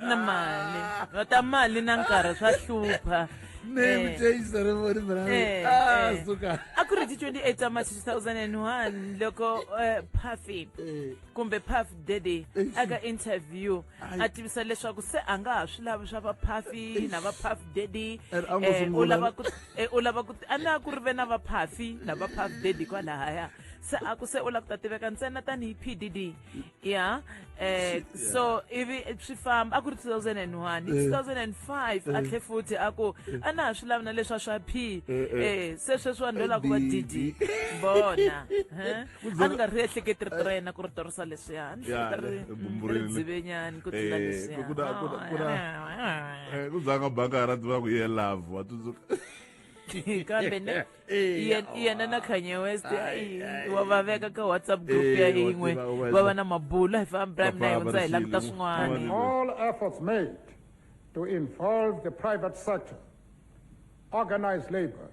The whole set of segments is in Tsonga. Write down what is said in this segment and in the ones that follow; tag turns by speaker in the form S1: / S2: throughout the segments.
S1: na mali va
S2: ta mali na nkarhi swa hlupha name change
S1: ceremony mara ah suka a ku ri ti 28 ta
S2: march 2001 loko eh, puffy eh. kumbe puff daddy eh, aka interview a tivisa leswaku se a nga ha swi lavi swa va puffy na va puff daddy u lava ku u lava ku a na ku ri ve na va puffy na va puff daddy kwalahaya se a ku se u lava ku ta tiveka ntsena tanihi p d d ya eh so ivi swi famba a ku ri 2001 hi 2005 a tlhe futhi a ku a na ha swi lavi na leswa swa p eh se sweswi vanhu lola ku va dd bona eh? a ni nga ri ehleketi rito ra yena ku ri torisa leswiya a ni hleketa ri ri dzivenyani ku tlula
S1: leswiya ku zanga banga ra tiva ku ye love wa tsundzuka
S2: kambe ne iye iye na na kanye west Ai, ai, ai. wa va veka ka whatsapp group Eh, ya wa yin'we tiva, wa va va na mabulu hi famba Papa, na hundza hi languta Barisilu. swin'wana Amen. all efforts
S3: made to involve the private sector, organized labor,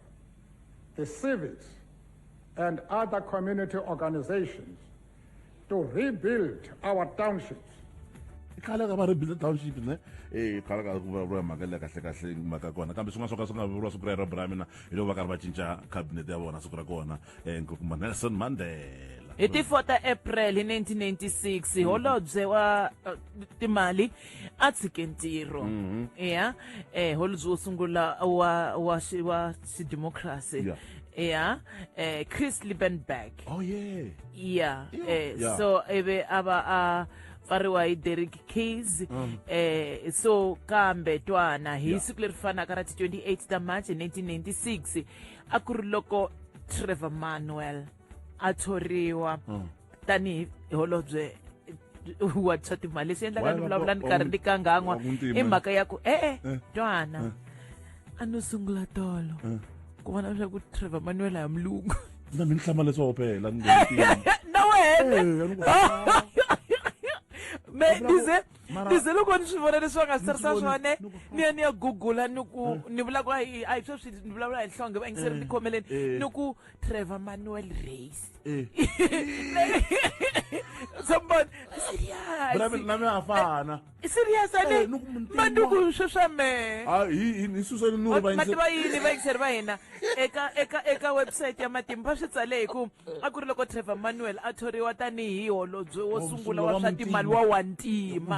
S3: the civics, and other community organizations to rebuild our townships khale
S1: ka va ri build township ne e khale ka ku vulavuriwa mhaka leyi kahle kahle mhaka kona kambe swin'wana swo ka swi nga vuriwa siku rero bra mina hi loko va karhi va cinca cabinet ya vona siku ra kona um nkokumba nelson mandela hi ti 4 ta
S2: april hi 1996 holobye wa eh, timali a tshike ntirho Mhm. ya eh holobye wo sungula wa wa xi- wa xidemokirasi Yeah. ya eh Chris Liebenberg oh yeah yeah Yeah. eh Yeah. so ebe aba a pfariwa hi Derek Keys Mm. eh so kambe twana hi Yeah. siku leri fanaka ra ti 28 ta March 1996 a ku ri loko Trevor Manuel a thoriwa hmm. tanihi holobye wa swa timali leswi endlaka ni vulavula ni karhi ni kangan'wa i mhaka ya ku e-e eh. twana eh. a no sungula tolo eh. ku vona leswaku trevor manuel ya mulungu na mi ni hlama leswi
S1: opela na
S2: wena me dize ni ze loko ni swi vona leswi va nga swi tsarisa swona ni ya ni ya gugula ni ku eh. ni vula ku a hi sweswi ni vulavula hi nhlonge va yingiseri eh. ni khomeleni eh. ni ku trevor manuel race sombona seriasnami afana
S1: serias ane
S2: manduku sweswa me
S1: mati va yini va yingiseri va
S2: hina eka eka eka website ya matimba va swi tsale hi ku a ku ri loko trevor manuel a thoriwa tanihi holobye wo sungula wa swa timali wa wantima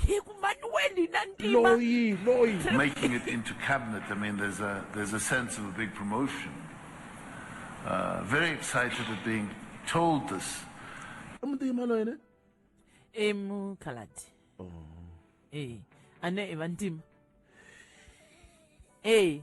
S2: hi ku manuel na ntimayi loyi
S1: making it into
S4: cabinet i mean there's a there's a sense of a big promotion uh, very excited at being told this i muntima loyi ne
S2: i mukhaladi oh. e a ne i vantima e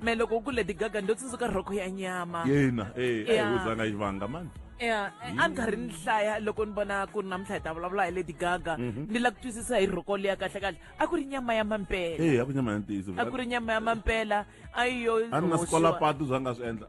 S2: me loko u ku lady gaga ndo tsundzuka rhoko ya nyama yena eh Yeah.
S1: ayi uzanga ivanga mani ya a ni karhi
S2: ni hlaya loko ni vona ku ri namuntlha hi ta vulavula hi lady gaga ni la ku twisisa hi rhoko leya kahle kahle a ku ri nyama ya mampela eh akunyama ya ntiyiso a
S1: ku ri nyama ya mampela
S2: a yi yo a ni na hoxiwa. sikola
S1: patu zanga swi endla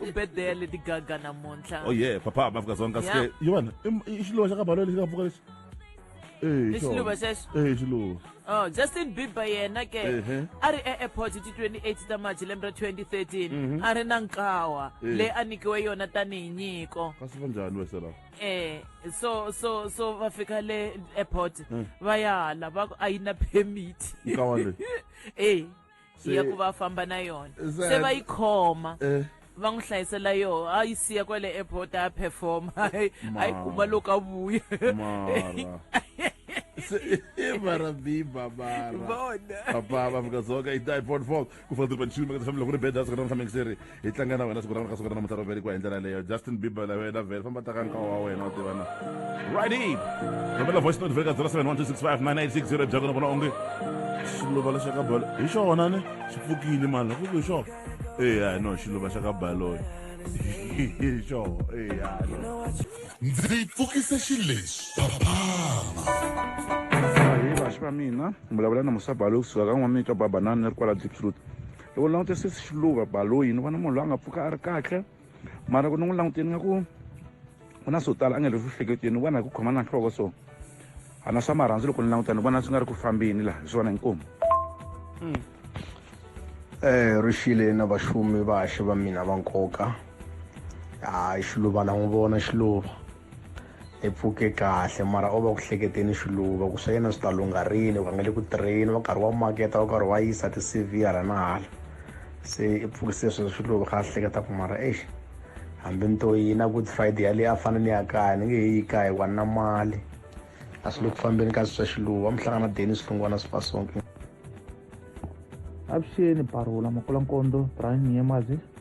S2: u bedele leti gaga namuntlha oh yeah
S1: papa hamba fika zonka Yeah. sike yona im- i
S2: xiluva
S1: xa ka balo lexi nga pfuka lexi Eh, i
S2: xiluva xona. xexo Eh, xiluva oh
S1: justin
S2: bieber yena ke Ehe. a ri e-airport hi ti 28 ta march lembe ra 2013 a ri na nkawa Eh. leyi a nyikiwe yona tanihi nyiko kasi va njhani wese la
S1: eh so so so
S2: va fika le airport va ya hala va ku a yi na permit nkawa leyi
S1: eh Se- ya ku va
S2: famba na yona Za- se va yi khoma Eh. va n'wi hlayisela yoho a yi siya kwale airport a ya performa a yi a yi kuma loko a vuya mara
S1: Se- i mara biba mara vona papa va afrika dzonga i dipod four ku fana tiri panchini maka tshami loko ri beda siku ra namuntlha mingiseri hi tlanga na wena siku ra wena ka siku ra namuntlha ro velekiwa hi ndlela leyo justin bieber la wena vele famba taka nkawa wa wena wa tiva na righty rhumela voice note veka 0712659860 byako na vona onge xiluva lexi ka balo hi xona ni xi pfukile mani loko ku hi xona eya no xiluva xa ka baloyi hi xona eya no
S5: ndzi pfukise xilexi papana
S6: hi vaxi va mina vulavula na musabalo kusuka ka n'wamitwa babanani ri kwala deep truth loko ni langute sesi xiluva baloyi ni vona munhu loyi a nga pfuka a ri kahle mara ku ni n'wi languteni nga ku ku na swo tala a nga le vuhleketeni ni vona hi ku khoma na nhloko so a na swa marhandzu loko ni languta ni vona swi nga ri ku fambeni laha hi swona inkomu um hmm.
S7: eh, ri xile na vaxumi vaxe va mina va nkoka hayi xiluva la n'wi vona xiluva i pfuke kahle mara o va ku hleketeni xiluva ku swa yena swi ta lungha rini ku a nga le ku tirheni wa karhi wa maketa wa karhi wa yisa ti-cv hala na hala se i pfukise sweswo xiluva kha a hleketa ku mara exi hambi ni to yina good friday yaleyi a fane ni ya kaya ni nge he yi kaya hikuva ni na mali a swi le ku fambeni ka swi swa xiluva mi hlangana deni swilungwana swi fasonke avuxeni
S8: parula makula nkondo brian nyemazi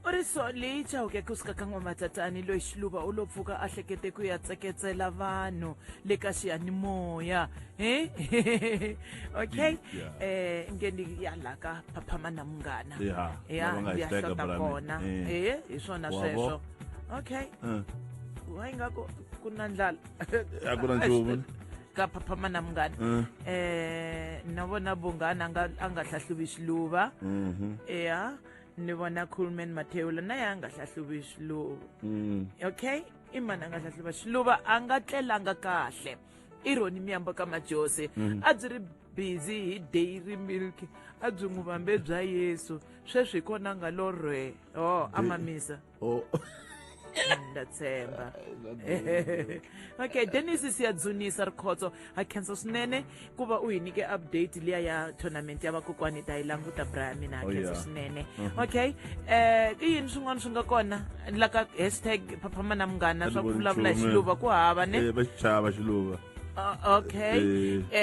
S2: u ri so leyi chawuke kusuka ka n'wamatatani loyi xiluva u lo pfuka a hlekete ku ya tseketsela vanhu le ka xiyanimoya he okay Yeah. eh nge ni ya la ka phaphama na munghana Yeah, ya lava nga hi ya teka hlota brand. kona Eh. eh hi swona Wa sweswo vo? okay Eh, wa ingaku ku na ndlala a ku na
S1: nchumu ka phapha mana
S2: munghana um na vona vunghana a nga a nga hlahluvi swiluva ya ni vona coolman mathewula na ye a nga hlahluvi swiluva okay i mani a nga hlahluva swiluva a nga tlelanga kahle i roni miyambo ka majose a byi ri busy hi dairy milk a byi n'wi vambe bya yesu sweswi hi kona a nga lorhe o a mamisa oh. ndatshemba okay dennis siyadzunisa rikhotso ha khensa swinene ku va u hi nyike update liya ya tournament ya vakokwani ta yi languta bra ya mina ha oh, khensa swinene mhm. okay um i yini swin'wana swi nga kona la ka hashtag phaphama na munghana swa ku vulavula hi xiluva ku hava ne eh, va xichava xiluva
S1: okay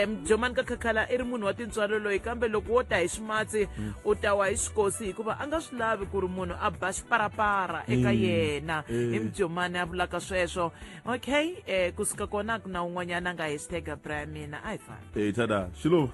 S2: um jomani ka khakhala i ri munhu wa tintswalo loyi kambe loko wo ta hi swimatsi hmm. u ta wa hi swikosi hikuva a nga swi lavi ku ri munhu a ba xiparapara eka hmm. yena hi mujomani a vulaka sweswo okay um kusuka kona ku na un'wanyana a nga hashtag bra ya mina a hi fani tada xilova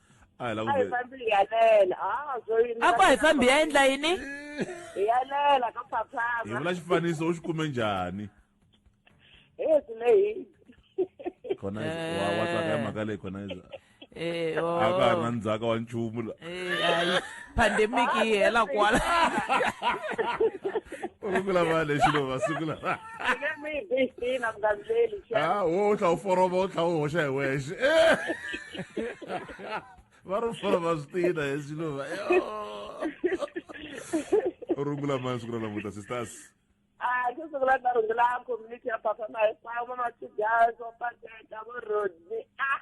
S1: a hi la ku a hi ve- fambi hi yalela
S2: a byo yini a ku a hi fambi ya endla yini hi yalela ka hi
S1: phaphama vula xifaniso u xi kume njhani e swi lehile khona wa wa tsaka ya mhaka leyi khona iza Eh, a ka ha ri na oh. ndzhaka wa nchumu la Eh, hayi.
S2: pandemic yi hela kwala
S1: u sungula va lexi lo va sungula Let me be seen, I'm not really sure. Ah, wo tla u foroba u tla u hoxa hi wexe. Va ri foroba switina hi swiluva. U rungula mani siku ra namuntlha sisters? Ah, ke siku
S9: la ta rungula community ya Papa Mahikwavo, Matigazo, Pateta, Vorodi. Ah!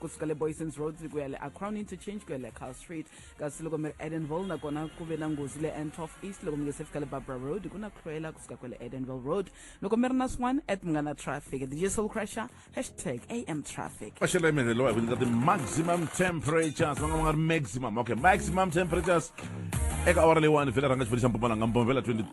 S10: kusuka le boysons road ku ya le acrown interchange ku ya le cal street kasi loko mi ri edenville nakona ku ve na nghozi le antof east loko mi nge se fika le barbara road ku na tlhwela kusuka kwele edenville road loko mi ri na swin'wana at mi nga na traffic dj soul crusher hashtag am traffic maxelo emeleriwa hi ku nyika
S1: ti-maximum temperatures va nga va nga ri maximum okay maximum temperatures eka awara leyiwani vhela rhanga xifundza xa mpumalanga mbomvela 23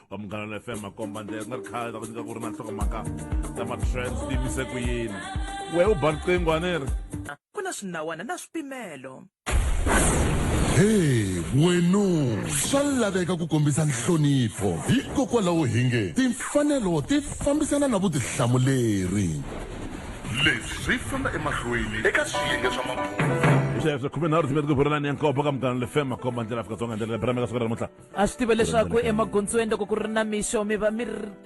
S1: va munghana fm makomba ndlela ku nga ri khale ta ku nyika ku ri na nhlokomhaka ta matrends ti yimise ku yini we u ba riqingho a ni ri ku na swinawana
S11: na swipimelo
S5: Hey, wenu swa laveka ku kombisa nhlonipho hikokwalaho hi nge timfanelo ti fambisana na vutihlamuleri leswi swi famba emahlweni eka swiyenge swa mabulo sweswo khume nharhu tin'we
S1: ti ku vurelani ya nkobo ka munghana le fm makomba ndlela afrika dzonga ndlela le brameka siku ra namuntlha a swi tiva leswaku
S2: emagondzweni loko ku ri na mixo mi va mi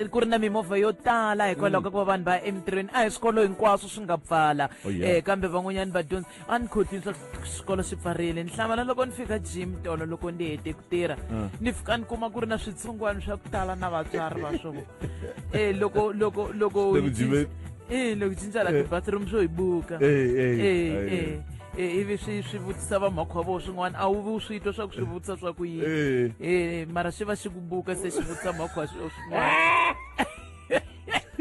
S2: ku ri na mimovha yo tala hikwalaho ka ku va vanhu va ya emintirhweni a hi swikolo hinkwaswo swi nga pfala Oh, yeah. um kambe van'wanyana vadyondzi a ni khotini swa swikolo swi pfarile ni hlamala loko ni fika gym tolo loko ni hete ku tirha ni fika ni kuma ku ri na switsongwana swa ku tala na vatswari va swona um loko loko loko Loko gym- Eh, loko cinca la tibathroom swo hi buka Eh, eh, Eh, eh. eh. Eh, ivi swi swi vutisa vamakhwa vo swin'wana a wu vi u swi twa swa ku swi vutisa swa ku yini Eh. Eh, mara swi va xi ku buka se xi vutisa makhwa swo swin'wana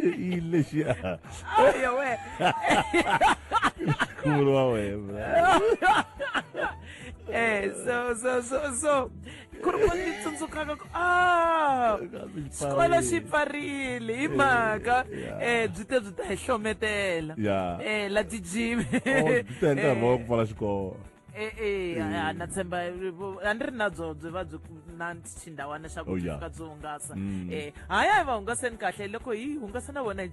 S1: i lexi a Aya we khulu wa wena eh
S2: so so so so ku ri mali ni tsundzukaka ku a xikolo xi pfarile hi mhaka um byi te byi ta hi hlometela um la tijimi e-e
S1: a
S2: na tshemba a ni ri na byo byi va byi na xindhawana xa ku fika byi hungasa um haya hi va hungaseni kahle loko hi hungasa na vona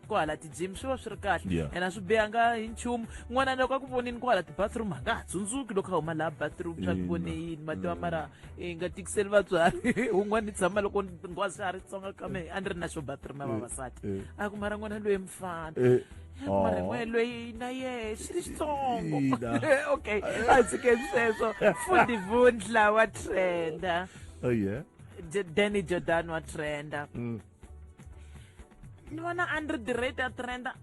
S2: ku hala ti-gym swi va swi ri kahle Yeah. ena swi bihanga hi nchumu n'wana loko a ku vonini ku hala ti-bathroom a nga ha tsundzuki loko a huma laha bathroom swa ku vone yini mativa mara i nga tikiseli vatswari un'wana ni tshama loko ngwazi a ri tsonga ka mehe a ni ri na xo bathroom ya vavasati eh. a ku mara n'wana loyi mfana Eh, mara aw. n'wana loyi na yehe xi ri xitsongo Ina. okay a tshike sweswo fundi vundla wa trenda Oh, yeah. J- danny jordan wa trenda Mm. ni vona a ni ri direct a trenda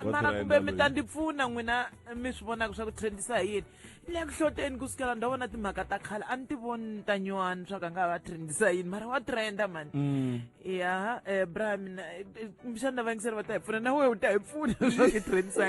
S2: mara kumbe mi ta ndzi pfuna n'wina mi swi vonaka swa ku trendisa hi yini ni le ku hloteni ku sukela ndzi vona timhaka ta khale a ni ti voni ni ta nyuwani swa ku a nga va trendisa yini mara wa trenda mani mm. ya um eh, bra mina eh, eh, xana vaingiseri va ta hi pfuna na wehe u ta hi pfuna swa ku trendisa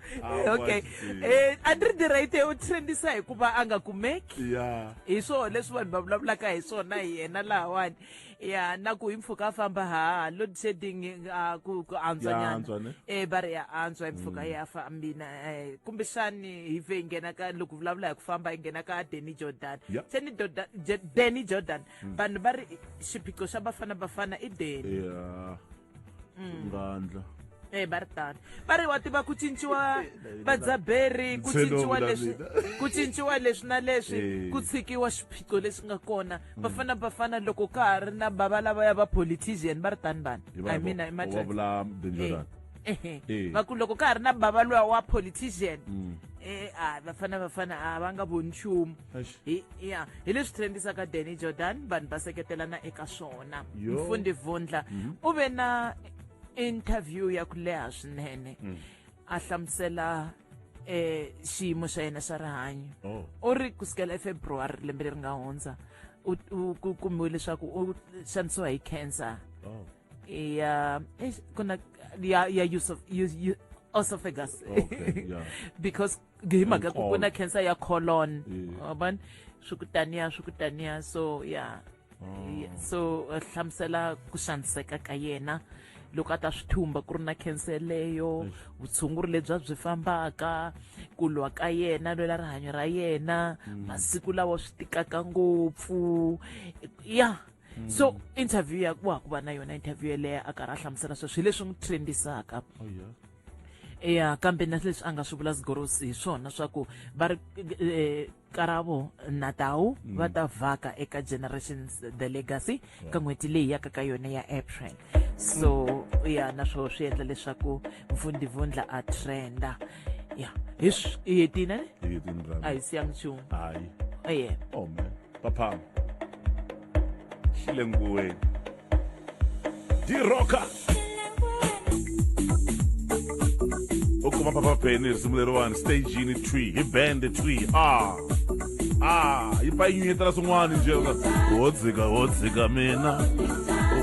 S2: Ah, okay eh, a ni ri ni right u trendisa hikuva a nga kumeki ya hi swona leswi vanhu va vulavulaka hi swona hi yena lahawani ya na ku hi mpfhuka a famba ha load shedding ah, ku ku Ya antswa ne? antswanyana eh va ri ya antswa hi mpfhuka ya fambina eh, kumbexani hi ve hi nghena ka loko vulavula hi ku famba hi nghena ka Danny Jordan Ya. se ni Jordan- Je- Danny Jordan vanhu va ri xiphiqo xa Bafana Bafana i Danny ya mm. ngandla
S1: e eh, va ri tano
S2: va ri wa tiva ku cinciwa vadzaberi ku cinciwa leswi ku cinciwa leswi na leswi eh. ku tshikiwa swiphiqo leswi nga kona mm. vafana vafana loko ka ha ri na bava lava ya va politician va ri tani vanhu i mean i matter va ku loko ka ha ri na bava loya wa politician mm. eh, a vafana vafana a va nga voni nchumu hi ya hi leswi trendisaka danny jordan vanhu va seketelana eka swona mfundi vundla mhm. u ve na interview ya ku leha swinene mm. a hlamusela eh xiyimo xa yena xa rihanyo oh. u ri ku sukela efebruwari lembe leri nga hundza ku kumiwe leswaku u xanisiwa hi cancer oh. ya eh, ku na ya ya Yusuf Yusuf esophagus okay, yeah. because hi mhaka ya ku ku na cancer ya colon wabona swi ku taniya swi ku taniya so ya mm. so eh, hlamusela ku xaniseka ka yena loko a ta swi thumba ku ri na cancer leyo vutshunguri lebyi a byi fambaka ku lwa ka yena lwela rihanyo ra yena mm. masiku lawa swi tikaka ngopfu ya mm. so interview ya wa ku va na yona interview yeleyo a karhi a hlamusela sweswo hi leswi n'wi trendisaka oh, yeah. ya kambe na leswi a nga swi vula sigorosi hi swona swa ku va ri eh, karavo na tawu mm. va ta vhaka eka generations the legacy ka n'hweti leyi yaka ka yona ya april so ya naswo swi endla leswaku mvundhivundla a trenda ya hi swi hi hetini ne Hi hetini brother. a hi siya nchumu Hayi. eye
S1: Oh man. Papa. Xile nguweni. Di rocker. U kuma Papa Penny risimu leriwani stage yini twi hi band twi. Ah. Ah, yi pa yi nyunyetela swin'wana nje. Ho dzika ho dzika mina.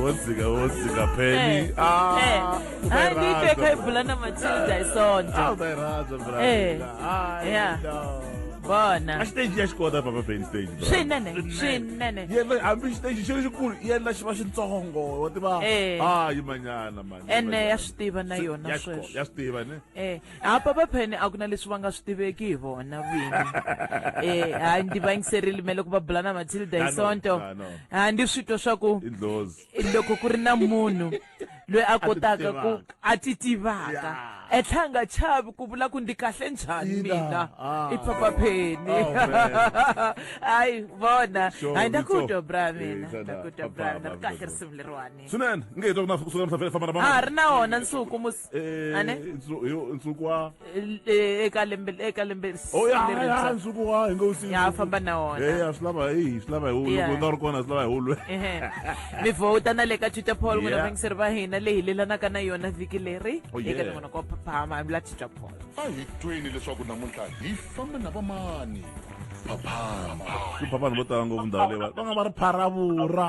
S1: Ho dzika ho dzika Penny. Eh, Ah. eh.
S2: hayi bibekho ayibhulana matilda isonto awutayiraza bra Eh. hayi Yeah. no bona a xiteji ya xi
S1: kota papa ben stage bra. swinene swinene
S2: yena hambi xiteji
S1: xi ri xikulu yena xi va xitsongo wa tiva Eh. ah yimanyana mani ene ya swi tiva na
S2: yona ya swi ko- sweswo ya swi tiva ne Eh,
S1: ha papa phene
S2: a ku na leswi va nga swi tiveki hi vona vini eh ha ndi va yingiserile me loko va bula na matilda hi Tano, sonto tano. ha ndi swi twa swa ku i ndlozi loko ku ri na munhu loyi a kotaka ku a ti tivaka e tlhela nga chavi ku vula ku ndi kahle njhani mina ah. i papa pheni oh, hayi vona hayi nda ku twa bra mina nda ku twa bra mina ri kahle risimu leriwani swinene nge hi twa ku na
S1: kusuka misafela famba na a ri na wona nsuku
S2: Eh, Ane? nsu- yo- nsuku
S1: wa Eh, eh, eka
S2: lembe eka lembe s- oh ya ya lerintshwa.
S1: nsuku wa hi ngo u si Ya, famba na wona. eh
S2: ya swi lava hi swi lava
S1: hi wu Yeah. loko u nga ri kona swi lava hi wu lwe Ehe. mi
S2: vhota na le ka twitter poll n'wina Yeah. vangiseri va hina leyi hilelanaka na yona vhiki leri Oh, eka yeah. nongonoko wa phaphama la twitter poll a hi tweni
S5: leswaku namuntlha hi famba na vamani phaphama ku
S1: phaphana vo tala ngopfu ndhawu leyi va va nga va ri pharavura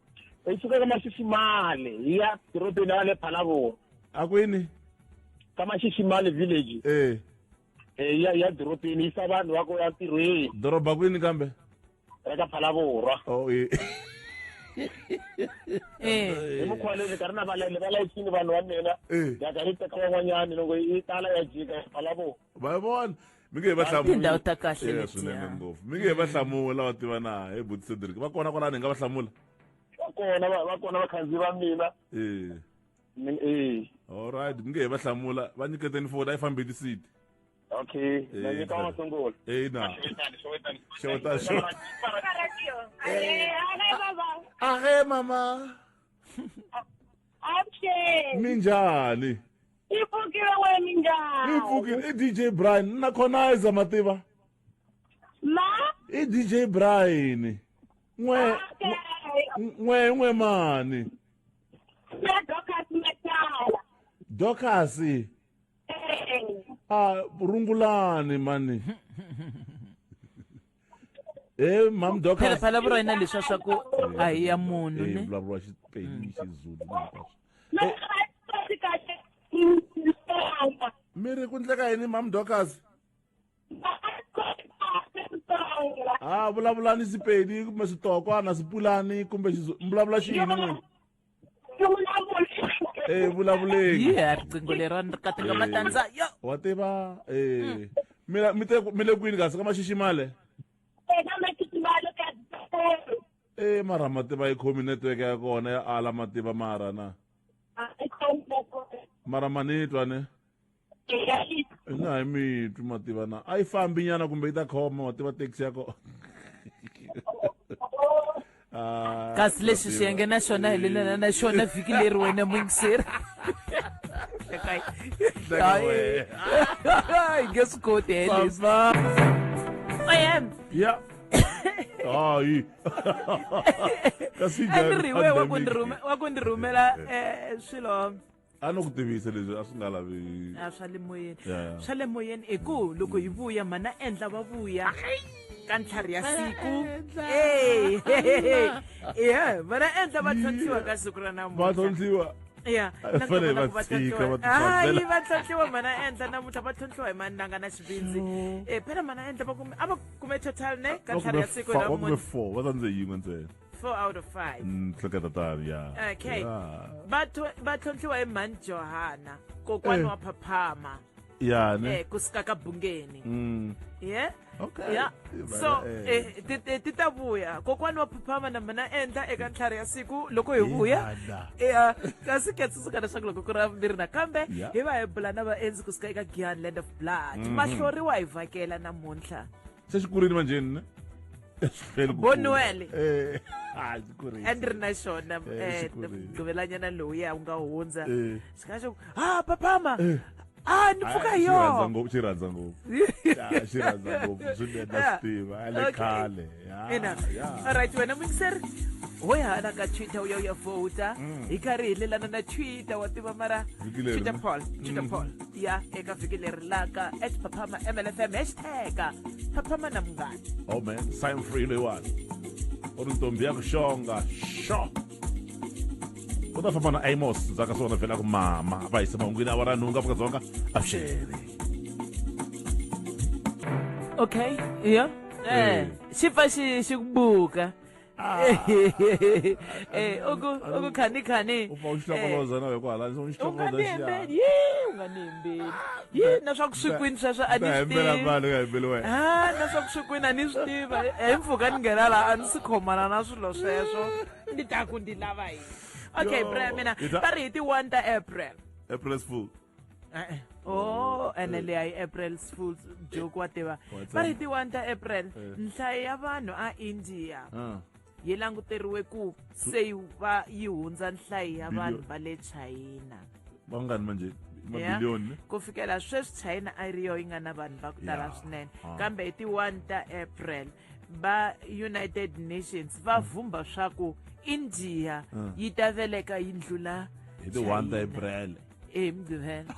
S1: hi suka ka
S12: mashisimale hi ya dorobeni ra le phalavona a kwini
S1: ka
S12: mashisimale village e hi ya hi ya dorobeni yisa vanhu va ku ya ntirhweni doroba kwini kambe
S1: ra ka
S12: phalavorwa oh, e.
S2: hi mukhuva leyi ka ri na
S12: valele va layisini vanhu va mina ya ka ri teka van'wanyani loko yi tala ya jika ya phalavona va vona
S1: mi nge he va hlamula tindhawu ta kahle Yeah, letiya.
S2: swinene ngopfu mi nge
S1: he va hlamula va tiva na he buti cedric va kona kwalani hi nga va hlamula va kona va-
S12: va kona vakhandziyi va mina ee Ni- eh
S1: allright mi nge he va hlamula va nyiketeni foni a yi fambi lisiti okay
S12: Eh, na
S1: nyika wa masungulo eyi na
S9: Xeweta, xeweta. ahe mama Action! mi njhani i pfukile we minjhani i
S1: pfukile i dj brian na khonaiza ma tiva ma i dj brian n'we n'we n'we mani na docas matala docas a rungulani mani Eh mam doc. Phela phela bro ina leswa swa
S2: ku a hi ya munhu ne. Eh vulavula xipedi
S1: xizulu hinkwaswo. Eh mi ri ku ndleka yini mam docas ha vulavulani sipedi kumbe switokwana swipulani kumbe vulavula xiyini n'wini eh vulavuleni yi ya riqingho lerani
S2: ri katinga Eh. matandza yo wa tiva
S1: eh mina mi te mi le kwini kasi ka maxiximale eh mara mativa yi khomi network ya kona ya ala mativa mara na mara manitwa ne na hi mi twi mativa na a yi fambi nyana kumbe yi ta khoma mativa taxi ya kona
S2: Ah, kasi lexi mativa. xiyenge na xona hi lelana na xona vhiki leri wena muyingiseri Teka wena. hi nge swi koti helesi Papa. oyem
S1: ya hayi kasi a ni ri we
S2: wa ku ni njhani? rhume- wa ku ni rhumela eh, swilo a no ku
S1: tivisa leswi a swi nga lavi a swa le moyeni
S2: Yeah. swa le moyeni hi ku loko hi vuya mhana endla va vuya ka ntlhari ya siku Eh, ya vana endla va tlhontlhiwa ka siku ra va namuntlha tlhontlhiwa
S1: ya A na fanele kona va ku va tshika, va tlhontlhiwa. Hayi,
S2: tidyondzela. va tlhontlhiwa mhana endla namuntlha va tlhontlhiwa hi mananga na xivindzi Eh, phela mhana endla va kume- a va kume total ne ka ntlhari ya siku ra va kume namuntlha four va tsandze
S1: yin'we ntsena four out of five
S2: Mm, hleka tatari ya
S1: okay Ya.
S2: va tho- va tlhontlhiwa hi mhani johana kokwana Eh. wa phaphama ya
S1: ne eh kusika ka bungeni
S2: Mm, yeah okay ya
S1: Eh, so bana,
S2: eh. eh, ti- ti- ti ta vuya kokwana wa phaphama na mina endla eka ntlhari ya siku loko hi vuya Ihada. ya kasi ke tsundzuka leswaku loko ku ri ravumbirhi nakambe Ya. hi va hi bula na vaendzi kusuka eka gianland of blood mahloriwa hi vhakela namuntlha sesikurile
S1: manjeni ne bonuele eh, and ri na xona
S2: eh, eh, mgqibelanyana lowuya u nga hundza xi nga xo ha papama Ah, ni pfuka hi yona. Ngopfu xi rhandza ngopfu.
S1: Ya xi rhandza ngopfu swinene na Steve, ale khale. Ina. All
S2: right, wena mixer. Hoy hala ka Twitter uya uya voter. Hi karhi hi lelana na Twitter wa tiva mara Twitter poll, Twitter poll. ya eka vhiki leri laka at phaphama mlfm hashtag phaphama na munghana oh man sign
S1: free leyiwani u ri ntombi ya ku xonga xo u ta famba na amos ndzaka swona vhela ku mama va yise mahungwini a va ra nhungu afrika dzonga avuxele
S2: okay iyo Eh. eh xi pfa xi xi ku buka Ah. Eh, uku- Alo- ukukhanikani. u pfa u tshi hlokoloza
S1: nawe kwala u tshi hlokoloza xiyana. unganembeli yi unganembeli
S2: yi na swa ku swi kwini sweswo a Ta ni swi hembela tivi vanhu u nga hembeli wena ha na swa ku swi kwini a ni swi tiva hi mpfhuka ni nghena laha a ni si khomana na swilo sweswo ni ta ku ndi lava yini okay Yo, bra mina yi ta- va ri hi ti-one ta april april's fool
S1: e-e o ene
S2: leyi a yi april fools joke wa tiva What's va ri that? ti 1 ta april Eh. nhlayo ya vanhu a india Ah, yi languteriwe ku se yi va yi hundza nhlayo ya vanhu Billion. va le china vangani manje
S1: Yeah. mabiliyoni ku fikela
S2: sweswi china a yi ri yo yi nga na vanhu va ku tala Yeah. swinene Ah. kambe hi ti 1 ta april va united nations va vhumba swa ku india Ah. yi ta veleka yi ndlula hi ti 1 ta China.
S1: april emgqibela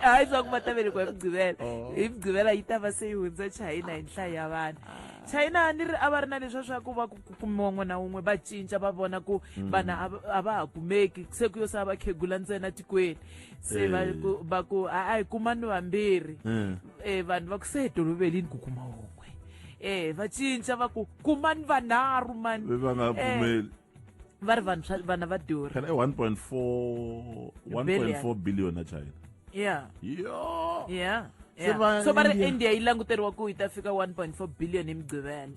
S2: hayi swa ku va ta velekiwa emgqibela oh. emgqibela yi ta va se yi hundza china hi nhlayo ya vanhu china a ni ri a va ri na leswa swa ku va ku kumiwa n'wana wun'we va cinca va vona ku hmm. vanhu a va ha kumeki se ku yo sa va khegula ntsena tikweni se va eh. ku va ku a hi kumani vambirhi um vanhu va ku se hi tolovelini ku kuma wun'we um va cinca va ku kumani vanharhu mani va nga pfumeli
S1: va ri vanhu
S2: swa- vana va durha
S1: phela i 1.4 1.4 billion na china yeah yo
S2: yeah Se
S1: yeah. va so va ri India- india yi languteriwa
S2: ku yi ta fika 1.4 billion hi mugqivela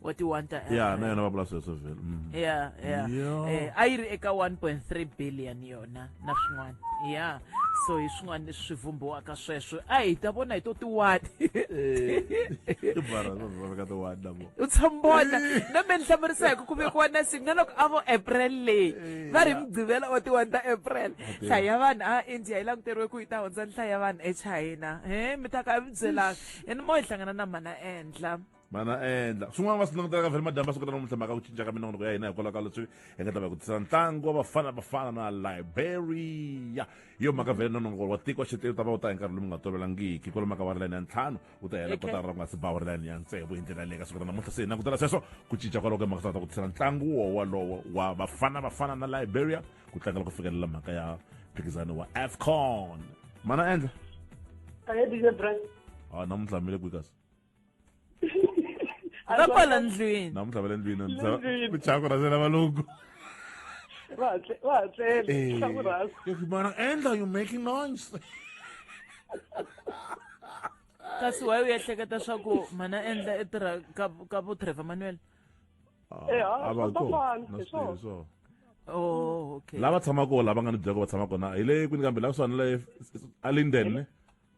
S2: wa ti-one ta ya na yona va vula sweswo
S1: vhele mm. yeah yeah Yeah. eh, a
S2: yi ri eka 1.3 billion yona na swin'wana ya yeah. so hi swin'wana leswi swi vumbiwaka sweswo a hi ta vona hi to tiwani u tshambona na me ni hlamurisa hi ku ku vekiwa na si nga loko a vo april leyi eh, va ri mugqivela wa tiwani ta april nhlayo ya vanhu a india yi languteriwe ku yi ta hundza nhlayo ya vanhu echina he mi ta ka mi byelaka ene mo hi hlangana na mana endla mana endla
S1: swin'wana va swi langutelaka vhele madyambi va swi kota namuntlha mhaka ku cinca ka minongonoko ya hina hikwalaho ka leswi hi nga ta va ku tisa ntlangu wa bafana bafana na liberia hi yo mhaka vhele nononoko wa tiko wa xitiri ta va wu ta hi nkarhi lowu nga tolovelangiki kwalo maka wa ri layini ya ntlhanu wu ta hela kotara ra ku nga si bawa ri layini ya ntsevu hi ndlela leyi ka siku ra namuntlha se hi langutela sweswo ku cinca kwalaho ka mhaka ta ku tisela ntlangu wo walowo wa bafana bafana na liberia ku tlangela ku fikelela mhaka ya mphikizano wa afcon mana endla a hi dije brand a namuntlha mile kwikas
S2: va kwala ndlwini namuntlha va le ndlwini
S1: michako rhazela valungu va hatlelevana eh, endla you making noise
S2: kasi waye u ehleketa swa ku mana endla i tirha ka vo trevor manuel ah, eh, ah, oh, lava tshamaka lava nga
S1: ni byako va tshama kona hi le kwini kambe la kusuhani le alinden ne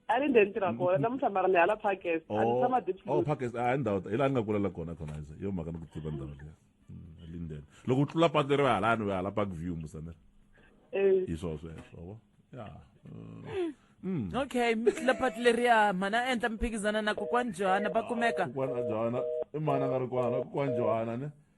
S9: a ri ndzeni tirha kona namuntlha mara ni hala parkes a ni tshama oh parkes a ndhawu hi laha
S1: ni nga kulela kona kona ize yo mhaka ni ku tiva ndhawu liya mm, linden loko u tlula patu ri va halani va hala park view musanera eh. hi swo sweswo ya
S2: mm. Mm. okay mitla pati leriya mhana a endla miphikizana na kokwani johana va kumeka kokwani johana
S1: i mhana nga ri kwana kokwani johana ne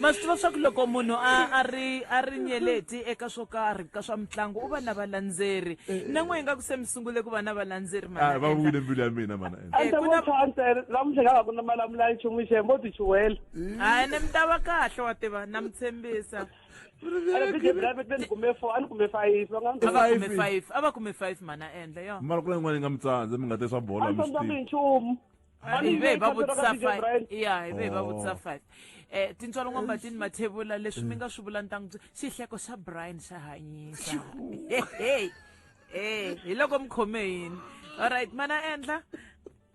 S2: ma swi tiva swa ku loko munhu a a ri a ri nyeleti eka swo karhi ka swa mitlangu u va na valandzeri na n'we hi nga ku se mi sungule ku va na valandzeri mana Ah, va Enda. vuyile mbilu ya
S1: mina mana ende ande ku na- vo tshwa ntsena
S9: namuntlha nga va ku na malamula yi chumu xembo u ti chuwela hayi ni mi ta va
S2: kahle wa tiva na mi tshembisa ande bije private ni kume four a ni kume five va nga ni a va kume Five. five a va kume five mana endla yo mara ku na yin'wana yi nga mi tsandza
S1: mi nga te swa bolo a mi ni swi sandzanga hi tivi nchumu Mami,
S9: hi ve hi yi va
S2: khandziyela vutisa ka DJ five Brian. ya hi ve hi va Oh. vutisa five um tintswalo n'wambatini mathevula leswi mi nga swi vula ni ta n'wi byela xihleko xa brian xa hanyisa hehe e hi loko mi khome yini allright mana endla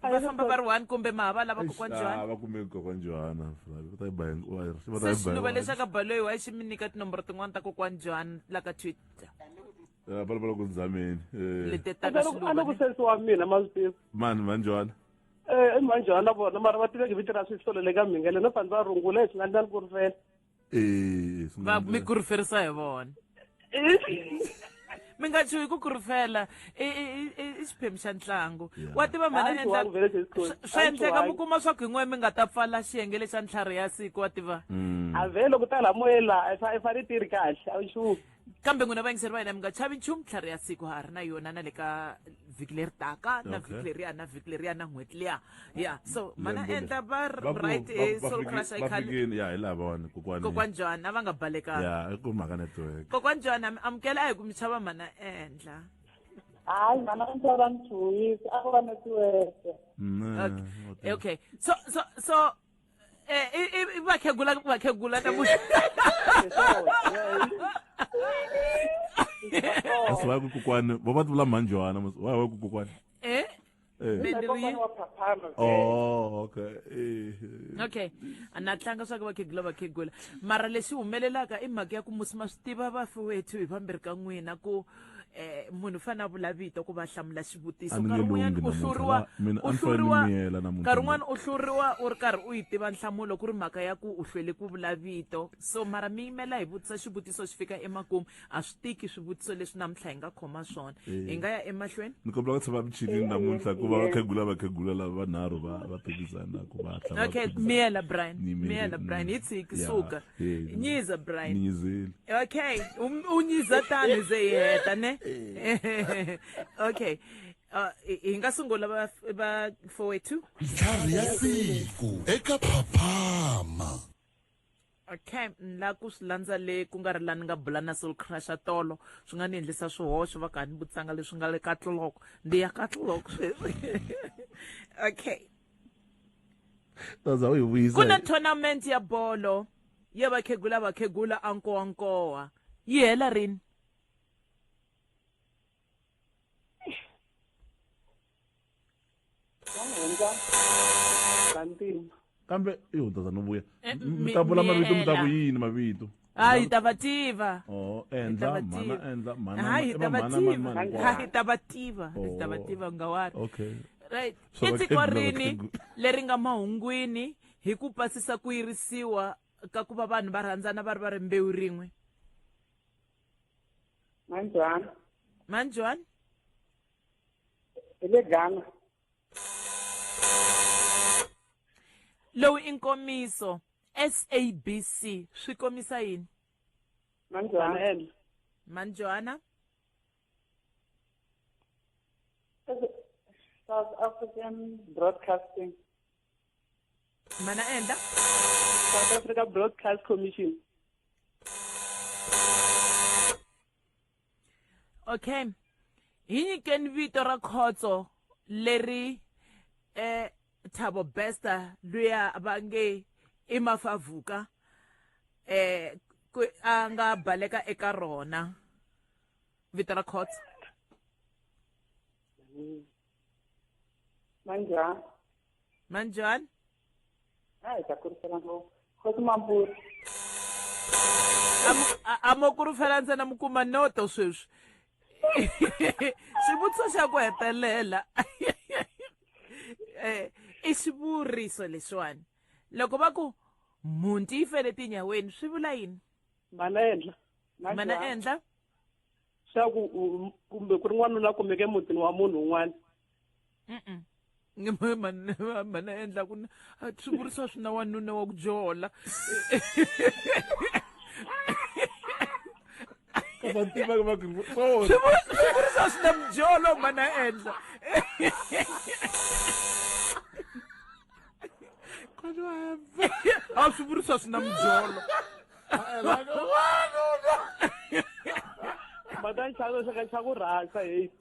S2: va famba va ri one kumbe ma ha va lava kokwana johani va kume kokwana johana
S1: va ta yi ba hinkwayo va ta yi ba se swi ni va hinkwayo.
S2: leswaku baloyi wa xi mi nyika tinomboro tin'wana ta kokwana johani la ka twitter Eh, vulavula
S1: ku ndzameni eh, leti ta ka
S2: swiluva loko leti. sense wa mina ma
S9: swi tiva mani manjwana
S1: Eh, i manjhana
S9: na vona mara va tiveki vito ra swisolo le ka mhingele no fani va rungula hi swi nga ndlani ku ri fela Eh,
S2: swi va nga- mi kuruferisa hi vona mi nga chuhi ku kurufela i- i- i- i- i xiphemu xa ntlangu Yeah. wa tiva mhana Hayi, endla- chuhangi vele sesi Coach. swa- swa Hayi, endleka mi chuhangi. kuma swa ku yin'we mi nga ta pfala xiyenge lexa ntlhari ya siku wa tiva Mm. a vhe loko ta
S9: la moyeni laha i fa- i fane i ti ri kahle a wu xumi kambe n'wina vayingiseri
S2: va hina mi nga chavi nchumu tlhari ya siku ha ri na yona na le ka vhiki leri taka na vhiki leriya na vhiki leriya na n'hweti liya ya so mana endla va right hi soul crush i can ya hi lavona
S1: kokwani kokwani John a va
S2: nga balekanga ya i ku mhaka network
S1: kokwani John mi amukela
S2: a hi ku mi chava mana endla hayi mana endla va ni chuhisa
S9: a ku va network mm, okay
S2: okay so so so Eh, i- i- i vakhegula vakhegula ta mu
S1: kasi va ku kokwani va va tivula mhanjwana mos- va va ku kokwani Eh, Eh. mi- kokwana wa phaphama oh
S2: okay Eh, eh. okay a na tlanga swa ku vakhegula vakhegula mara lexi humelelaka i mhaka ya ku musi ma swi tiva vafi wethu hi vambirhi ka n'wina ku eh munhu fana a vula vito ku va hlamula xivutiso nkarhi wun'wanyana u hluriwa u hluriwa nkarhi wun'wana u hluriwa u ri karhi u yi tiva nhlamulo ku ri mhaka ya ku u hlwele ku vula vito so mara mi yimela hi vutisa xivutiso xi fika emakumu a swi tiki swivutiso leswi namuntlha hi nga khoma swona eh. hi nga ya emahlweni ni kombela ku tshama michinini
S1: namuntlha ku va vakhegula vakhegula lava vanharhu va va phikizana ku va okay miyela
S2: brian miyela brian hi tshiki suka Eh, nyiza brian ninyizeli okay um- u nyiza tani ze yi heta ne okay Uh, hi hi nga sungula va va fowethu ntlhari ya
S5: siku eka phaphama
S2: okay ni la ku swi landza le ku nga ri la ni nga bula na soul crusha tolo swi nga ni endlisa swihoxo va ka ni vutsanga leswi nga le ka tloloko ndi ya ka tloloko sweswi okay taza u yi vuyisa ku na tournament ya bolo ya vakhegula vakhegula a nkowa nkowa yi hela rini
S1: kambe i hundzazana u vuya Eh, mi- mi ta vula mavito mi ta ku miyela. yini mavito ha hi ta va
S2: tiva Oh, Hi ta endla va mhana tiva. endla mhana
S1: ha hi va ta va mhana mani tiva mani ha hi
S2: ta va tiva hi ta va Oh. tiva ngawari Okay. right So i
S1: tiko vakhegula,
S2: rini vakhegula. leri nga mahungwini hi ku pasisa ku yirisiwa ka ku va vanhu va rhandzana va ri va ri mbewu rin'we manjwani manjwani
S9: hi le ghana
S2: lowu i nkomiso sabc swi komisa yini mani johana ene mani johana south
S9: african broadcasting
S2: mana enda south
S9: africa broadcast commission
S2: okay hi nyikeni vito ra khotso leri eh thabo besta luya va nge i mafavuka eh ku a nga baleka eka rona vito ra khotso manjani manjani hayi
S9: ta kurisela ngopfu khosi mambuti
S2: a mo kurufela ntsena mi kuma noto sweswi xivutiso xa ku hetelela um i xivuriso leswiwani loko va ku mhunti yi fele tinyaweni swi vula yini mana endla
S9: mana endla swa ku kumbe ku ri n'wanuna kumeke mutini wa munhu un'wana mhani
S2: a endla ku a swi vurisiwa swi na wanuna wa ku jola swi vurisiwa swi na mujolo mhani a endla a swi vurisiwa swi na mujolo mhani
S9: a xaku rhasa hate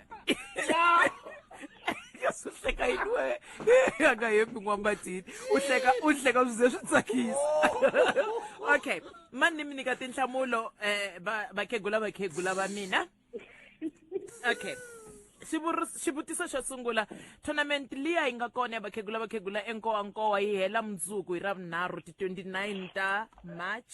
S2: hleka yini we a nga hembi n'wambatini u hleka u hleka swi ze swi tsakisa okay mani ni mi nyika tinhlamulo um vakhegula vakhegula va mina okay xivutiso xo sungula tournament liya yi nga kona ya vakhegula vakhegula enkowankowa yi hela mundzuku hi ravunharhu ti-29 ta march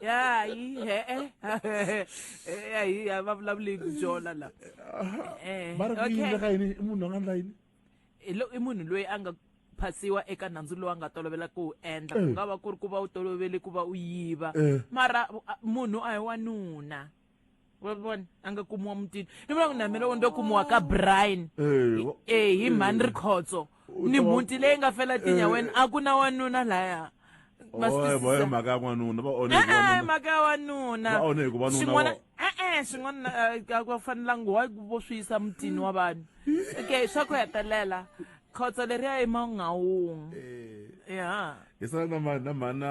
S2: ya yi he-e ya yi a va vulavuli hi byona la Eh, va ri ku okay. yini ka yini i munhu a nga ndla yini Hi lo- i munhu loyi a nga phasiwa eka nandzu lowu a nga tolovela ku wu endla ku nga va ku ri ku va u tolovele ku va u yiva Eh. mara a- munhu a hi wanuna wa vona a nga kumiwa mutini i vula ku na mina loko ndo kumiwa ka brian Eh, wa- e hi mhani ri khotso U ni ta va- mhuti leyi nga fela tinyaweni a ku na wanuna laya Ma swi Oe, boy, twisisa?
S1: mhaka ya n'wanuna va onhe hi E-e, wanuna. mhaka ya
S2: wanuna Va onhe hikuva nuna Swin'wana- wa- e-e swin'wana eh, a ku fanelanga wa vo swi yisa mutini wa vanhu okay swa ku hetelela khotso leriya emangawungu Eh, ya hi sala na ma-
S1: na mhana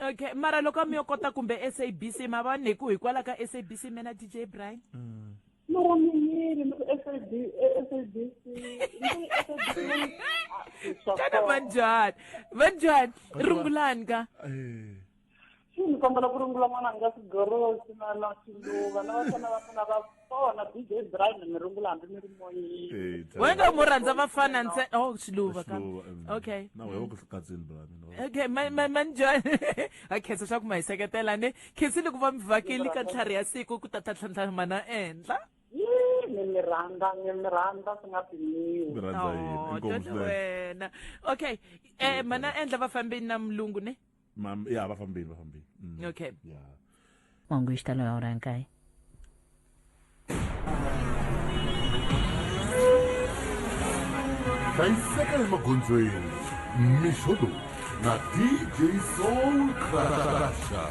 S2: okay mara loko a mi yo kota kumbe sabc ma va neku hikwalaho ka sabc mena dj brian mm. mara mi yini
S9: sabc xana
S2: vanjhani vanjhani rungulani ka eh. xi ni kombela ku rungula n'wana nga sigorosi
S9: na na swiluva na vafana va mina va kona dj brian mi rungula hambi mi ri moyini wena mu rhandza
S2: vafana ntsena oh xiluva ka okay na wewe ku katsini
S1: bra mina okay ma ma ma
S2: njhani ha khensa swa ku ma hi seketela ne khensile ku va mi vhakeli ka ntlhari ya siku ku tata tlhantlhamana ehenhla ni mi
S9: rhandza ni mi rhandza swi nga pimiwi
S2: wena okay eh mana endla vafambeni na mulungu ne Mam, ya va fambile
S1: va fambile. Mm. Okay.
S13: Ya. Wangu xitalo ya hora nkaye.
S5: hlayiseka emagondzweni mixo lowu na dj soul crasha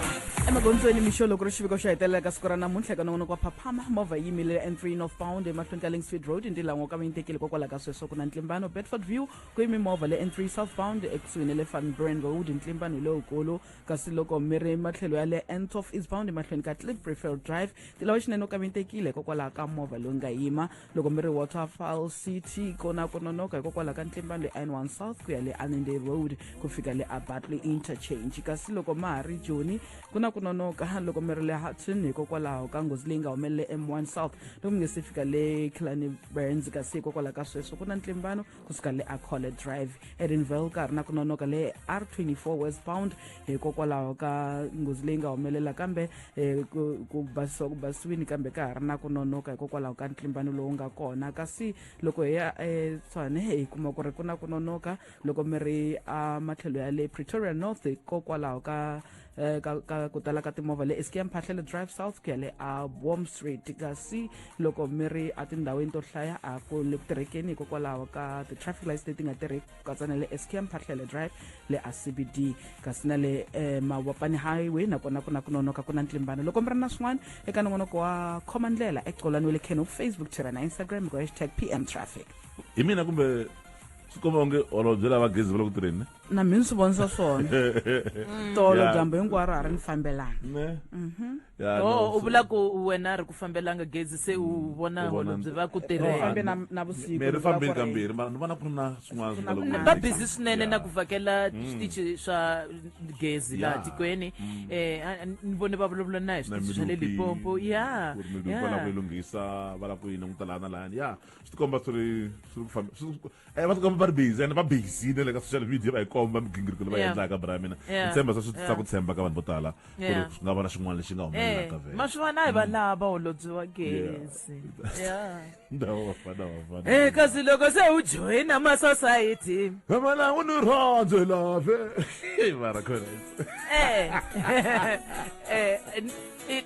S5: emagondzweni
S10: mixo loko ri xiviko xo hetelela ka siku ra namuntlha eka nongonoko wa phaphama movha yi yimile n3 northbound emahlweni ka lingstreet road ntilango ka va yi tekile kokwalaho ka sweswo ku na ntlimbano bedford view kwimimovha le n3 southbound ekusuhi ne le van brandwood ntlimba ni lowukulu kasi loko mi ri matlhelo ya le n12 eastbound emahlweni ka cliff prefer drive tilawa xinene u kavintekile hikokwalaho ka movha lowu nga yima loko mi ri waterfall city kona ku nonoka hikokwalaho ka ntlimbano le n1 south ku ya le anende road ku fika le abatley interchange kasi loko ma ha ri joni ku na ku nonoka loko mi ri le hudson hikokwalaho ka nghozi leyi nga humelele m1 south loko mi nge se fika le kilani burns kasi hikokwalaho ka sweswo ku na ntlimbano kusuka le acole drive edinville ka ha ri na ku nonoka le r24 westbound hikokwalaho ka nghozi leyi nga humelela kambe eh, ku basisiwa ku basisiwini kambe ka ha ri na ku nonoka hikokwalaho ka ntlimbano lowu nga kona kasi loko hi ya etshwane eh, hi kuma ku ri ku na ku nonoka loko mi ri ematlhelo ya le pretoria north hikokwalaho ka eh, ka, ka ku tala ka timovha le eski ya mphahlele drive south ku ya le a warm street kasi loko mi ri etindhawini to hlaya a ku le ku tirhekeni hikokwalaho ka ti-traffic lights leti nga tirheki ku katsa na le eski ya mphahlele drive le a cbd kasi na le eh, mawapani highway nakona ku na ku nonoka ku na ntlimbano loko mi ri na swin'wana eka nongonoko wa khoma ndlela ecolani wa le khen facebook twitter na instagram hi ku hashtag pm traffic hi mina kumbe
S1: swi komba onge holobye lava gezi va le ku tirheni ne na mi ni swi vonisa
S10: swona tolo Yeah. dyambu hinkwaro a ri ni fambelana Ne? Yeah, no,
S2: o u so- vula ku wena a ri ku fambelanga gezi se u vona U vona- holobye va ku No, tirhela fambe na- na vusiku, Mehe ni ri vula
S10: fambile ku ri- kambirhi
S1: mara ni vona ku ri na swin'wana swi nga Ku na loko- va busy swinene
S2: na ku vhakela switichi swa gezi laha Yeah. tikweni um ni vone va vulavula na hi na switichi swa le milupi, lipompo ya ku ri milupi va lava ku yi
S1: lunghisa va lava ku yi languta laha na lahani ya swi tikomba swi ri swi ri ku fambe- swi- Eh, va tikomba va ri busy and va busy ne le ka social media va hi komba migingiriko leyi va Yeah. endlaka bra mina Yeah. ni tshemba swa swi tisa Yeah. ku tshemba ka vanhu vo tala ku ri Yeah. swi nga va na xin'wana lexi nga humelelaka Eh, vhele ma swi vona hi vanhu lava
S2: va holobyi wa gezi Yeah. ndhawu vafana vafana Eh, kasi loko se u joyina masosayiti Mama u ni
S1: rhandze lave mara khona Eh. Eh,
S2: n- i-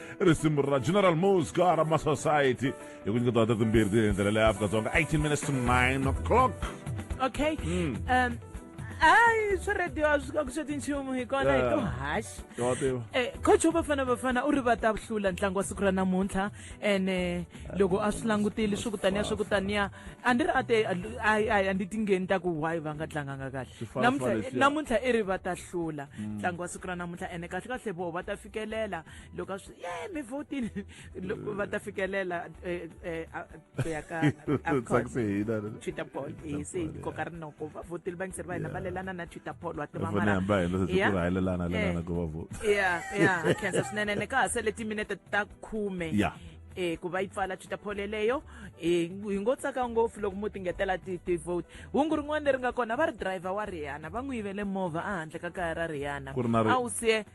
S1: i risimu ra general mosca ra ma society hi ku nyiketiwa ta timbirhi ti endlela leya afrika-dzonga 18 minutes to 9 o'clock okay
S2: mm. um hayi swi radio a swi ka ku swa tinchumu hi kona hi to haxi um eh, coach wa bafana bafana u ri va ta hlula ntlangu wa siku ra namuntlha ene eh, loko a swi langutile swi kutaniya swi kutaniya a ndi ri a te a ndi tingheni ta ku why va nga tlanganga kahle namuntlha i ri va ta hlula mm. ntlangu wa siku ra namuntlha ene kahle kahle voho va ta fikelela loko a swi ye mi votile loko va ta fikelela eh, eh, ku ya ka twitter poll hi se hi koka rinoko va votile vangiseri va hina va lelana na twitter poll wa tivamalakhensa swinene ni ka ha sele timinete ta khume eh ku va yi pfala twitter poll yeleyo eh hi ngo tsaka ngopfu loko mo tingetela ti-vote hungu rin'wana leri nga kona va ri driver wa rihana va n'wi yivele movha ehandle ka kaya ra rihana a wu siye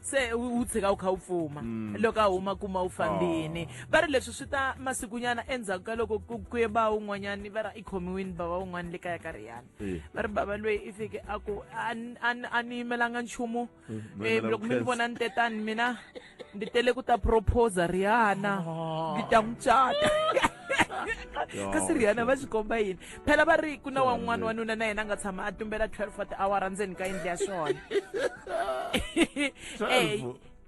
S2: se u u tshika u kha u pfuma loko a huma kuma u fambini va ri leswi swi ta masikunyana endzhaku ka loko ku ku ye ba un'wanyani va ra i khomiwini bava un'wana le kaya ka riyana Eh. va ri bava loyi i fike a ku a ni- a ni- a ni yimelanga nchumu Eh, ma Eh, yimela loko mi ni vukheta. vona ni te tani mina ndi tele ku ta proposa riyana ndi ta n'wi cata kasi riyana va swi komba yini phela va ri ku na wan'wana wanuna na yena a nga tshama a tumbela 12 wa tiawara ndzeni ka yindlu ya swona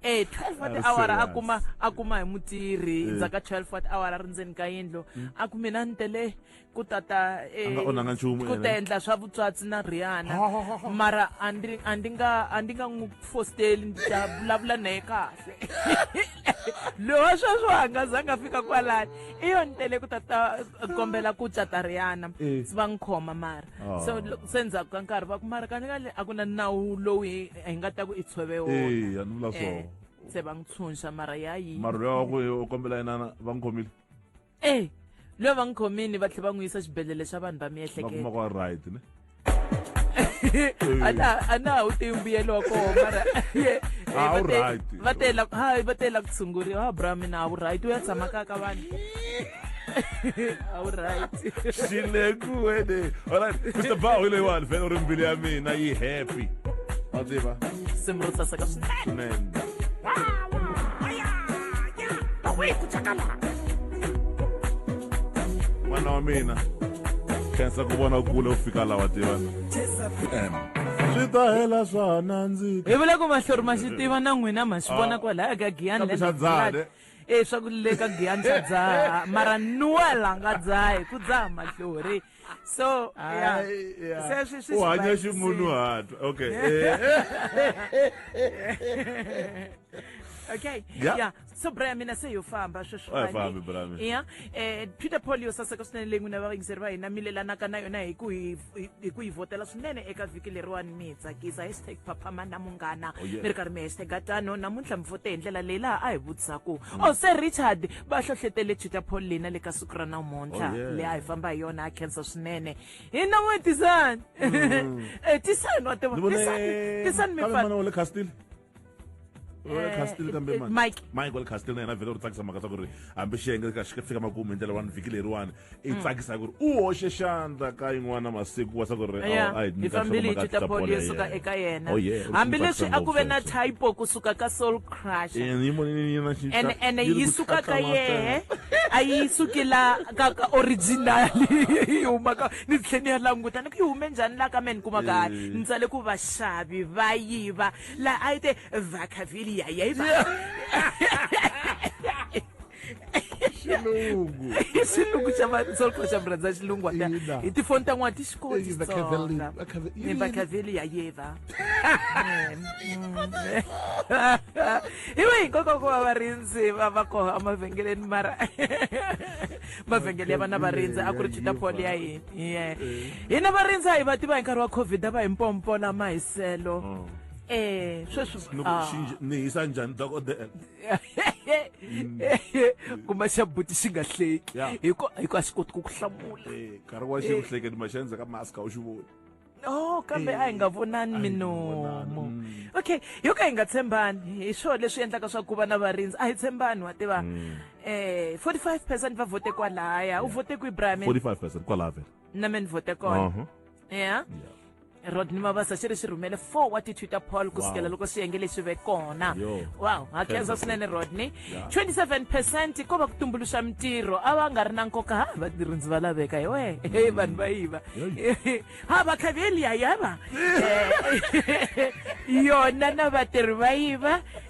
S2: e 12 wa tiawara a kuma a kuma hi mutirhi eh. ndzaka 12 wa tiawara ri ndzeni ka yindlu hmm. a ku mina ni tele ku tata eh, ku ta endla swa vutswatsi na riana mara a ndi nga a ndi nga n'wi fosteli ndzi ta vulavula naye kahle loyi wa sweswo a nga zanga a fika kwalani i yo ni tele ku tata kombela ku cata riyana Eh. se va n'wi khoma mara Oh. so lo- se ndzhaku ka nkarhi va ku mara kanekale a ku na nawu lowu hi hi nga ta ku i tshove Eh, wona a ni vula Eh, so se va n'wi tshunxa mara ya yi mara loyi wa ku u
S1: kombela yinana va n'wi khomile e
S2: loyi va n'wi khomini
S1: va
S2: tlhela va n'wi yisa xibedhlele xa vanhu va miehleketo va right
S1: ne
S2: a na ha wu tiyi mbuyelo wa kona mara va
S1: tela hayi
S2: va tela ku tshunguriwa ha bra mina a wu right u ya tshama ka ka vanhu alright xileku
S1: wene alright mr bao leyiwani vhele u ri mbilu ya mina yi happy wa tiva simrutsa
S2: saka swinene
S1: n'wana wa mina khensa ku vona kule u fika lawa tivana swi ta hela swa ha nandzika hi vula ku mahlori ma
S2: swi tiva na n'wina ma swi vona ah. kwalaya ka giyani lendzae e swa ku le ka giyani xa dzaha mara nuwela nga dzahi ku dzaha mahlori so yeah. Ai, yeah. Se
S1: swi- swi u hanya swi basile. ximunhuhatwa okay eh.
S2: okay Yeah. yeah so braya mina se yo famba sweswi Wa ha fambi, mhani. braya mina. yeah eh peter paul yo saseka swinene leyi n'wina vayingiseri va hina mi lelanaka na yona hi ku hi hi- hi ku yi vhotela swinene eka vhiki leriwani mi hi tsakisa hashtag phaphama na munghana Oh, yeah. mi ri karhi mi hashtag tano namuntlha mi vote hi ndlela leyi laha a hi vutisaku o se richard va hlohlotele tutor paul lina le ka siku ra namuntlha oh, yeah. leyi a hi famba hi yona a khensa swinene hi na n'we tisani mm. eh, tisani wa tiva tisani
S1: mipale castle kambe mike mike wale castle na yena vhele u tsakisa mhaka swa ku ri hambi xiyenge xi fika makumu hi ndlela wani vhiki leriwani i mm. tsakisa ku ri u hoxe xandla ka yin'wana masiku wa swa ku ri hi fambile hi
S2: tita bolo yo suka eka yena oh, hambileswi a ku ve na typo kusuka ka soul crush ene yi suka ka yehe a yi suki la ka ka original yi humaka ni tlhe ni ya languta ni ku yi hume njhani la ka me ni kuma ka eh. ni tsale ku vaxavi va yiva laha a yi te vacaviliya yayiva xilungu xilungu xa vasolko xa murhandza xilungu wa ta Ina. hi tifoni ta n'wana ti xi koti Ina, Xitsonga. Cavellini, va Cave- Ni va Cavellini ya yeva iwe hinkwako ku va varindzi va va koho emavhengeleni mara mavhengele ya vana varindzi a ku ri chita poli ya hina Yeah. hina varindzi a hi va tiva hi nkarhi wa covid a va hi mpompola mahiselo eh sweswi loko ah. xinje ni
S1: hisa njhani dokodela
S2: Mm. kuma xa buti xi nga hleki hiko hiko a xi koti ku ku hlamula eh, nkarhi wa xi ku eh.
S1: hleketi ma xenze ka mask a wu xi voni no kambe
S2: eh, a hi nga vonani minomo mm. okay yo ka hi nga tshembani hi swona leswi endlaka swa ku va na varindzi a hi tshembani wa tiva mm. eh 45 percent va vote kwalaya u vote ku ibrahim 45 percent kwalaya vele
S1: na me ni vote kona
S2: uh-huh. ya yeah. rodney mabasa xi ri xi rhumele four wa ti-twitter poll ku sukela loko swiyenge leswi ve kona wow ha khensa swinene rodney 27 percent ko va ku tumbuluxa mintirho a va nga ri na nkoka ha vatirhindzi va laveka hi wehe mm. vanhu va yiva ha va khaveli ya yava yona na vatirhi va yiva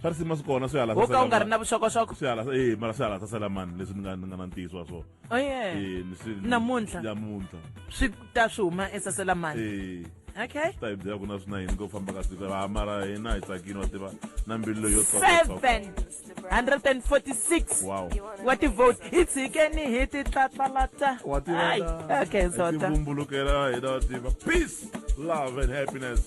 S2: swa ri sima swi kona
S1: swi halasa wo ka u nga ri na vuxokoxoko
S2: swi halasa eh mara swi
S1: halasa sala mani leswi ni nga ni nga na ntiyiso wa swona oh yeah eh ni swi
S2: namuntlha namuntlha swi ta swi huma esasela mani eh okay ta hi byela ku na swi na
S1: yini ko famba ka siku va mara hina hi tsakini wa tiva na mbilu leyo tsoka
S2: 146 wow wa ti vote hi tshikeni hi ti tlatlalata wa tiva
S1: okay zota
S2: vumbulukela hina wa
S1: tiva peace love and happiness